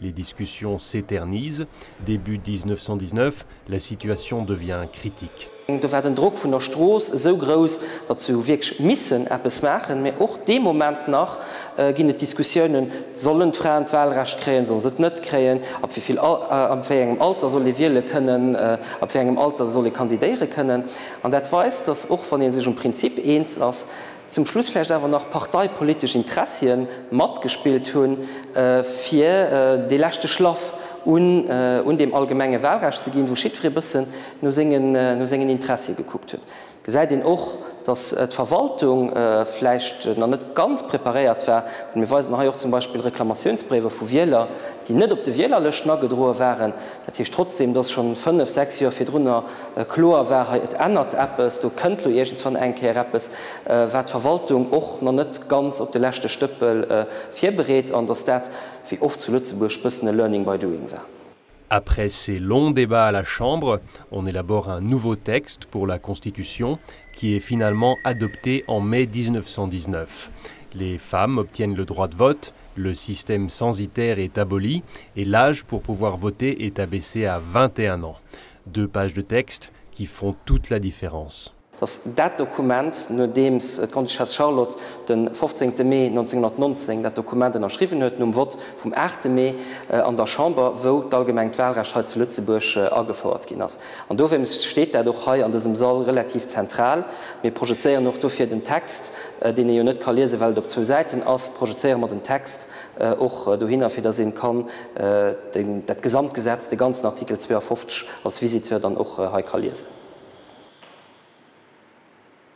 Les discussions s'éternisent, début 1919, la situation devient critique. Do war den Drock vun der Strooss esou grouss, datt se hu wierklech missen eppes maachen. Mä och dee Moment nach ginn et Diskussiounen, Sollen d'Fraen d'Wahlrecht kréien, solle se et net kréien? Ab wéi vill, ab wéi engem Alter soll ee wiele kënnen? Ab wéi engem Alter soll ee kandidéiere kënnen? An dat weist, datt och wann ee sech um Prinzip eens ass, Zum Schluss vläicht awer nach parteipolitesch Interessien matgespillt hunn, fir dee leschte Schlaff un deem allgemenge Wahlrecht ze ginn, wou jiddweree e bëssen no sengen Interessie gekuckt huet. Et gesäit een och, datt d'Verwaltung vläicht nach net ganz preparéiert war. Mir weisen hei och zum Beispill Reklamatiounsbréiwer vu Wieler, déi net op de Wielerlëschten agedroe waren. Dat heescht trotzdeem, dass scho fënnf, sechs Joer virdrunner kloer war, hei, et ännert eppes, do kënnt elo iergendswann eng Kéier eppes, war d'Verwaltung och nach net ganz op de leschte Stëppel virbereet an dass dat, wéi oft zu Lëtzebuerg, bëssen e Learning by doing war. Après ces longs débats à la Chambre, on élabore un nouveau texte pour la Constitution qui est finalement adopté en mai 1919. Les femmes obtiennent le droit de vote, Le système censitaire est aboli et l'âge pour pouvoir voter est abaissé à 21 ans. Deux pages de texte qui font toute la différence. Dass dat Dokument, nodeems d'Grande-Duchesse Charlotte de 15 Mee 1919 dat Dokument ënnerschriwwen huet, nom Vott vum 8 Mee an der Chamber, wou d'allgemengt Wahlrecht hei zu Lëtzebuerg agefouert ginn ass, An dowéinst steet dat och hei an dësem Sall relativ zentral. Mir projezéieren och dofir den Text, deen ee jo net ka liesen, well et op zwou Säiten ass, projezéiere mer den Text och dohinner, fir dass ee kann dat gesamt Gesetz, de ganzen Artikel 52 als Visiteur dann och hei ka liesen.